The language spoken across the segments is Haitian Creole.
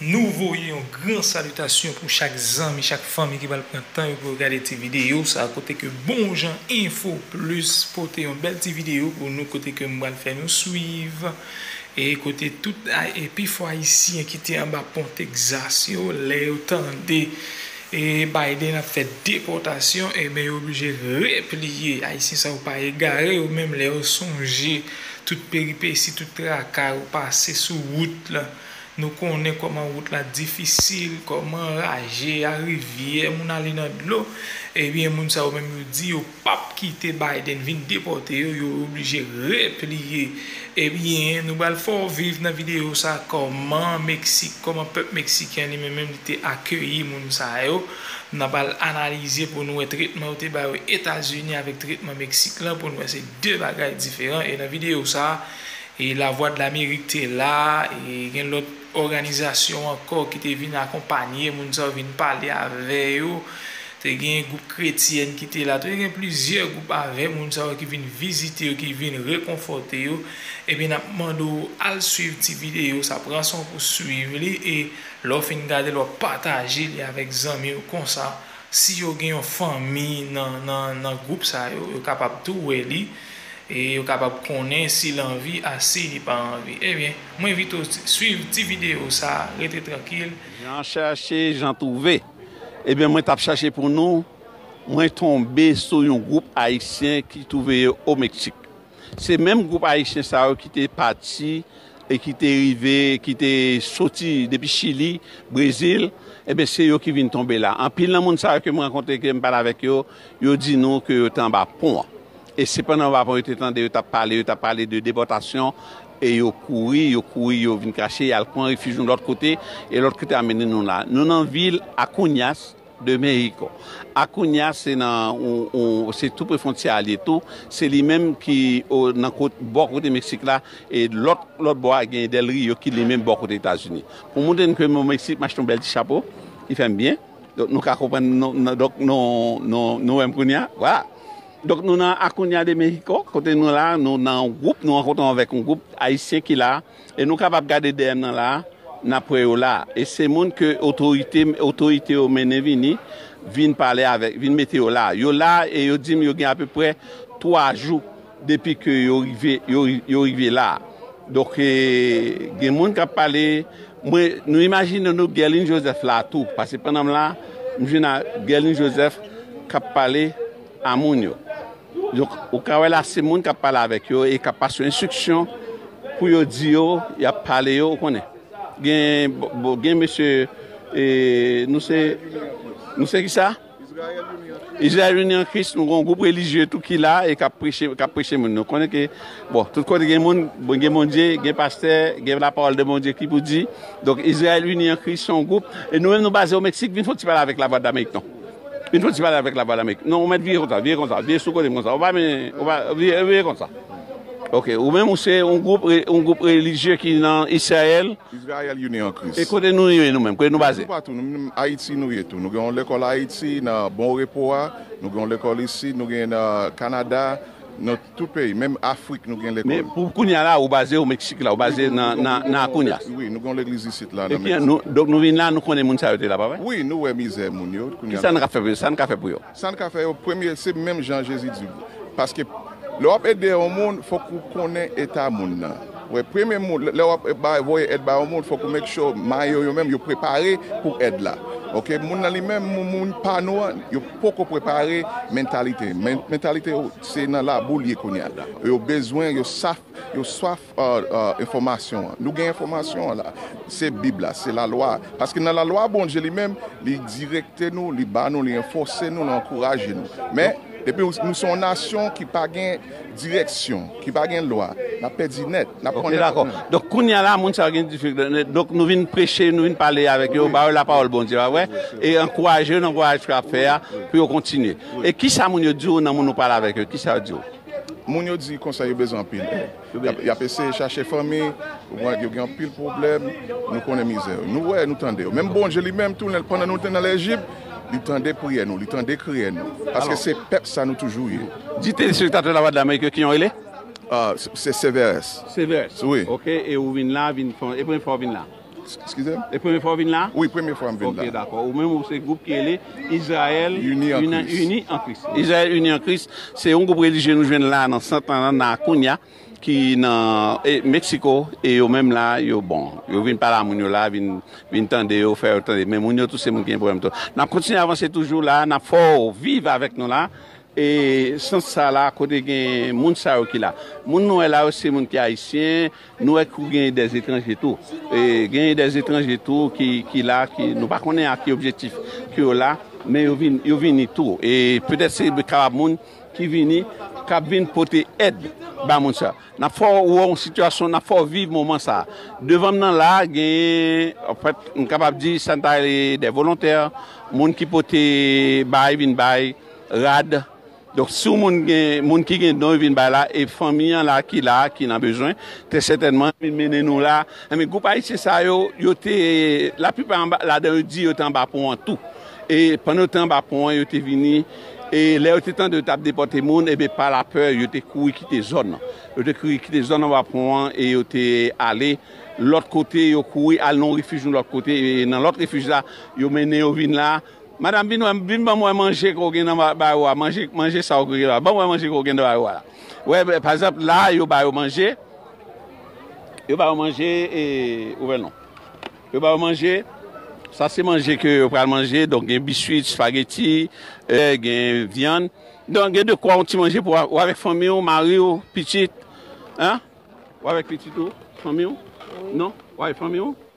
Nou voye yon gran salitasyon pou chak zanmi, chak fanmi ki pral pran tan yo pou yo gade ti videyo sa a kote ke bon jan enfo plis pote yon bèl ti videyo pou nou kote ke m pral fè nou swiv. E kote tout e pifò ayisyen ki te anba pon Texas yo lè yo tande e Biden ap fè depòtasyon enben yo oblije repliye ayisyen sa yo pa egare yo menm lè yo sonje tout peripesi tout traka yo pase sou wout la nou konnen kòman wout la difisil kòman raje a rivyè moun ale nan dlo ebyen moun sa yo menm yo di yo pap kite Biden vin depòte yo yo oblije repliye ebyen nou bal fè w viv nan video sa kòman Mexique kòman pèp Mexicain li menm li te akeyi moun sa yo nan bal analize pou nou wè tretman yo te ba yo Etazini avèk tretman Mexique lan pou nou wè se 2 bagay diferan e nan video sa e Lavwadlamerik te la e gen lòt òganizasyon ankò ki te vin akonpanye moun sa yo vin pale avè yo. Te gen gwoup kretyèn ki te la tou. Te gen plizyè gwoup avè moun sa yo ki vin vizite yo, ki vin rekonfòte yo. Ebyen, n ap mande w al suiv ti videyo sa a. Pran san w pou w suiv li. E lè w fin gade l, w ap pataje li avèk zanmi w. Konsa, si yo gen yon fanmi nan gwoup sa yo, yo kapab tou wè li. E yo kapab konnen si l anvi a si li pa anvi. Ebyen, mwen envite w suiv ti videyo sa a. Rete trankil. Jan chèche, jan twouve. Ebyen mwen tap chache pou nou, mwen tonbe sou yon gwoup ayisyen ki twouve yo o Meksik. Se menm gwoup ayisyen sa yo ki te pati e ki te rive, ki te soti depi Chili, Brezil, ebyen se yo ki vin tonbe la. Anpil nan moun sa yo ke m rankontre, ke m pale avèk yo, yo di nou ke yo te anba pon an. E se pandan anba pon yo te tande yo tap pale, yo tap pale de depòtasyon E yo kouri, yo kouri, yo vin kache, y al pran refij yon lòt kote, e lòt kote a mennen nou la. Nou nan vil Akuñas de Mexico. Akuñas se nan, se tou pre fwontyè a li ye tou. Se li menm ki nan kot, bò kote Meksik la, e lòt, lòt bò a gen Del Rio ki li menm bò kote Etazini. Pou montre nou ke m o Meksik, m achte yon bèl ti chapo ki fè m byen. Donk nou ka konprann, donk nou wè m kounye a. Vwala! Donk nou nan Acuña de México, kote nou la, nou nan yon gwoup, nou rankontre avèk yon gwoup Ayisyen ki la, e nou kapab gade dèyè nan la, n ap wè yo la. E se moun ke otorite, otorite yo mennen vini, vin pale avèk, vin mete yo la. Yo la e yo di m yo gen apeprè 3 jou depi ke yo rive, yo, yo rive la. Donk e, gen moun k ap pale, mwen, nou imajine nou Guerline Joseph la tou, pase pandan m la, m jwenn a Guerline Joseph k ap pale. a moun yo. Donk, ou ka wè la se moun k ap pale avèk yo e k ap pase yo enstriksyon pou yo di yo, y ap pale yo, ou konnen. Gen mesye, nou se, nou se ki sa? Izrayèl Ini an Kris, nou gen yon gwoup relijye tou ki la e k ap preche, k ap preche moun. Nou konnen ke, bon, tout kote gen moun, gen Bondye, gen pastè, gen lapawòl de Bondye ki pou di. Donk, Izrayèl Ini an Kris se yon gwoup. E nou menm nou baze Omeksik, vin fè yon ti pale avèk Lavwadlamerik non. Vin fon ti pale avèk lavwa d'Amerik. Non ou mèt vire konsa, vire konsa, vire sou kote m konsa. Ou pa men, ou pa, vire, vire konsa. Ok, ou menm ou se yon gwoup, yon gwoup relijye ki nan Israel? Israel Unis en Christ. E kote nou ye nou menm, kote nou baze? Nou toupatou, nou menm Ayiti nou ye tou. Nou gen yon lekòl Ayiti nan Bon Repo a, nou gen yon lekòl isit, nou gen nan Kanada, nou. Tout peyi, menm Afrik nou gen lekòl. Men pou kounya la ou baze o Meksik la, ou baze nan Akunyas. Wi, nou gen yon legliz isit la nan Meksik. Epi donk nou vin la, nou konnen moun sa yo te la pa vre? Wi, nou wè mizè moun yo. Ki sa nou ka fè pou yo? Sa nou ka fè pou yo? Sa nou ka fè yo, premye se menm jan Jezi di. Paske lè w ap ede yon moun, fòk ou konnen eta moun nan. Wè, premye moun, lè w ap bay, voye èd ba yon moun, fòk ou make sure may yo yo menm yo prepare pou èd la. Ok, moun nan li menm, moun pa nou an, yo poko prepare mentalite. Mentalite yo. Se nan labou li ye kounya la. Yo bezwen, yo saf, yo swaf enfòmasyon an. Nou gen enfòmasyon an la. Se Bib la, se lalwa a. Paske nan lalwa a Bondye li menm, li direkte nou, li ba nou, li anfòse nou, li ankouraje nou. Men, depi nou se yon nasyon ki pa gen direksyon, ki pa gen lwa, n ap pèdi nèt. N ap konnen tout moun. Donk kounya la moun sa yo gen difikilte. Donk nou vin preche, nou vin pale avèk yo, ba yo lapawòl Bondye a, pa vre? E ankouraje yo nan vwayaj ke y ap fè a pou yo kontinye. E kisa moun yo diw nan moun ou pale avèk yo kisa yo diw? Moun yo di konsa yo bezwen anpil èd yap eseye chache fanmi yo gen anpil pwoblèm nou konnen mizè yo nou wè nou tande yo menm Bondye li menm tou lè pandan nou te nan lejip li tande priyè nou li tande kriye nou paske se pèp sa nou toujou ye. Di telespektatè Lavwadlamerik yo kijan ou rele? Se Severès. Severès wi. Ok e ou vin la vin fon e premye fwa ou vin la? Skize m? E premye fwa w vin la? Wi, premye fwa m vin la. Ok, dakò. Ou menm ou se gwoup ki rele Izrayèl Ini an Kris. Ini an Kris. Izrayèl Ini an Kris, se yon gwoup relijye nou jwenn la nan sant lan, nan Akunya, ki nan Meksiko. E yo menm la, yo bon. Yo vin pale a moun yo la, vin, vin tande yo, fè yo tande. Men moun yo tou se moun ki gen pwoblèm tou. N ap kontinye avanse toujou la. N ap fè w viv avèk nou la. E sans sa la kote gen moun sa yo ki la. Moun nou wè la yo se moun ki ayisyen, nou wè kou gen dè etranje tou. E gen dè etranje tou ki la, nou pa konnen a ki objektif ke yo la, men yo vini tou. E petèt se kapab moun ki vini, k ap vin pote èd ba moun sa. N ap fè w wè yon sitiyasyon, n ap fè w viv moman sa. Devan m nan la a gen, an fèt m kapab di sa nou ta rele dè volontè, moun ki pote bay vin bay. Rad Donk si yon moun gen moun ki gen don yo vin bay la e fanmi an la ki la ki nan bezwen trè sètènman yo vin mennen nou la enben gwoup ayisyen sa yo yo te laplipa anba ladan yo di yo te anba pon an tou e pandan yo te anba pon an yo te vini e lè yo te tande yo t ap depòte moun enben pa lapè yo te kouri kite zòn nan yo te kouri kite zòn anba pon an e yo te ale lòt kote yo kouri al nan yon refij yon lòt kote e nan lòt refij la yo mennen yo vin la. Madam vin wèm vin banm wè manje ke w gen nan ba ou a manje manje sa ou gen la banm wè manje ke w gen nan ba ou a wè pa egzanp la yo ba yo manje yo ba yo manje e ou wè non yo ba yo manje sa se manje ke yo pral manje donk gen biswit spageti e gen vyann donk gen de kwa yon ti manje pou ou avèk fanmi ou mari ou pitit an ou avèk pitit ou fanmi ou non ou avèk fanmi ou.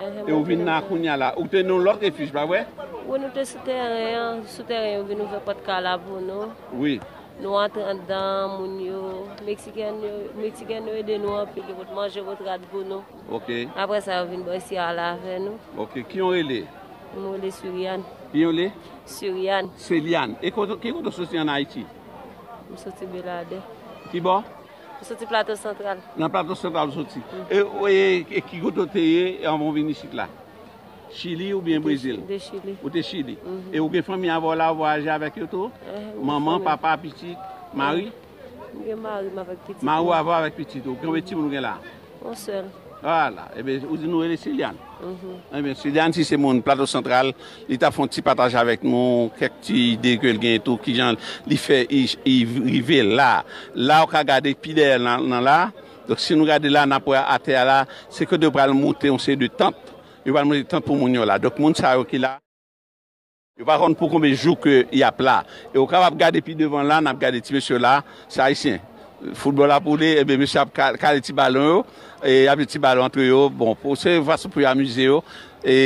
E ou vin la kounya la. Ou te nan yon lòt refuge pa vre? Wi nou te sou teren an. Sou teren yo vin ouvè pòt kay la pou nou. Wi. Nou antre andan, moun yo, Meksiken yo, Meksiken yo ede nou anpil. Yo pot manje, yo pot rad pou nou. Ok. Apre sa yo vin bay siyale avè nou. Ok. Ki yon rele? M rele Suriane. Ki yon rele? Suriane. Suriane. E ki kote ou soti an Ayiti? M soti Beladè. Ki bò? Ou soti plato santral. Nan plato santral ou soti. E ki kote ou te ye anvan ou vin isit la? Chili oubyen Brezil? Mwen te chili. Ou te chili. E ou gen fanmi avè w la ou vwayaje avèk yo tou? Manman, papa, pitit, mari? Mwen gen mari m avèk pitit mwen. Mari w avè w avèk pitit ou. Konbyen timoun ou gen la? On sèl. Ah la! Eben, ou di nou rele Silian? Mh. Eben, Silian si se moun Plato Santral, li ta fè yon ti pataj avèk nou kèk ti ide ke li genyen tou, ki jan li fè li rive la. La ou ka gade pi dèyè nan la, donk si nou gade la, n'ap wè atè a la, se kote yo pral moute yon seri de tant, yo pral moute tant pou moun yo la. Donk moun sa yo ki la. Yo pa konn pou konbe jou ke yap la e ou kapab gade pi devan la nap gade ti mesye yo la se ayisyen football ap woule ebyen mesye ap kale ti balon yo e yap jwe ti balon antre yo bon pou se yon fason pou yo amize yo e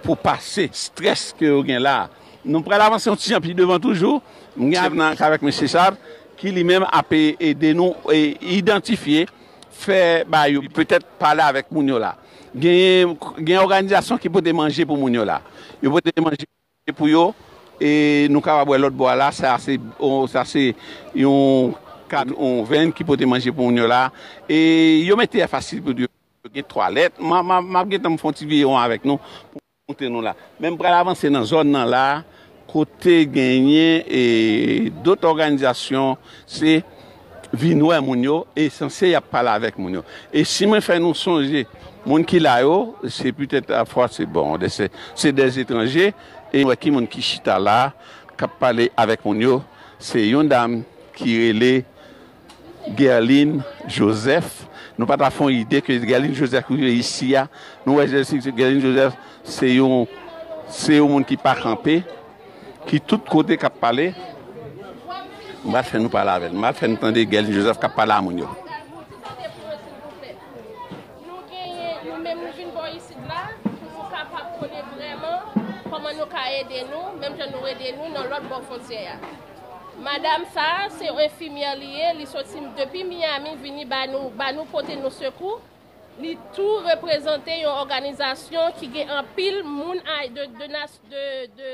pou pase strès ke yo gen la nou pral avanse yon ti jan pi devan toujou m gen avèk nan avèk mesye sa ki li menm ap ede nou idantifye fè ba yo petèt pale avèk moun yo la. Gen òganizasyon ki pote manje pou moun yo la. Yo pote manje pou yo e nou kapab wè lòt bò a la sa se yon kad yon venn ki pote manje pou moun yo la e yo mete enfasiz pou di yo gen twalèt. M ap gen tan m fè yon ti veye won avèk nou. Kote nou la. Men m pral avanse nan zòn nan la kote genyen dot òganizasyon se vin wè moun yo e sanse y ap pale avèk moun yo. E si mwen fè nou sonje moun ki la yo se petèt pafwa se bon se dè etranje e nou wè ki moun ki chita la k ap pale avèk moun yo se yon dam ki rele. Guerline Joseph nou pa ta fè yon ide ke Guerline Joseph ki rive isi a nou wè Guerline Joseph se yon se yon moun ki pa kanpe ki tout kote kap pale m pa fè nou pale avèl m pa fè nou tande Guerline Joseph kap pale a moun yo. Madam sa se yon enfimyè li ye li soti depi Miami vini ba nou ba nou pote nou sekou li tou reprezante yon òganizasyon ki gen anpil moun de de de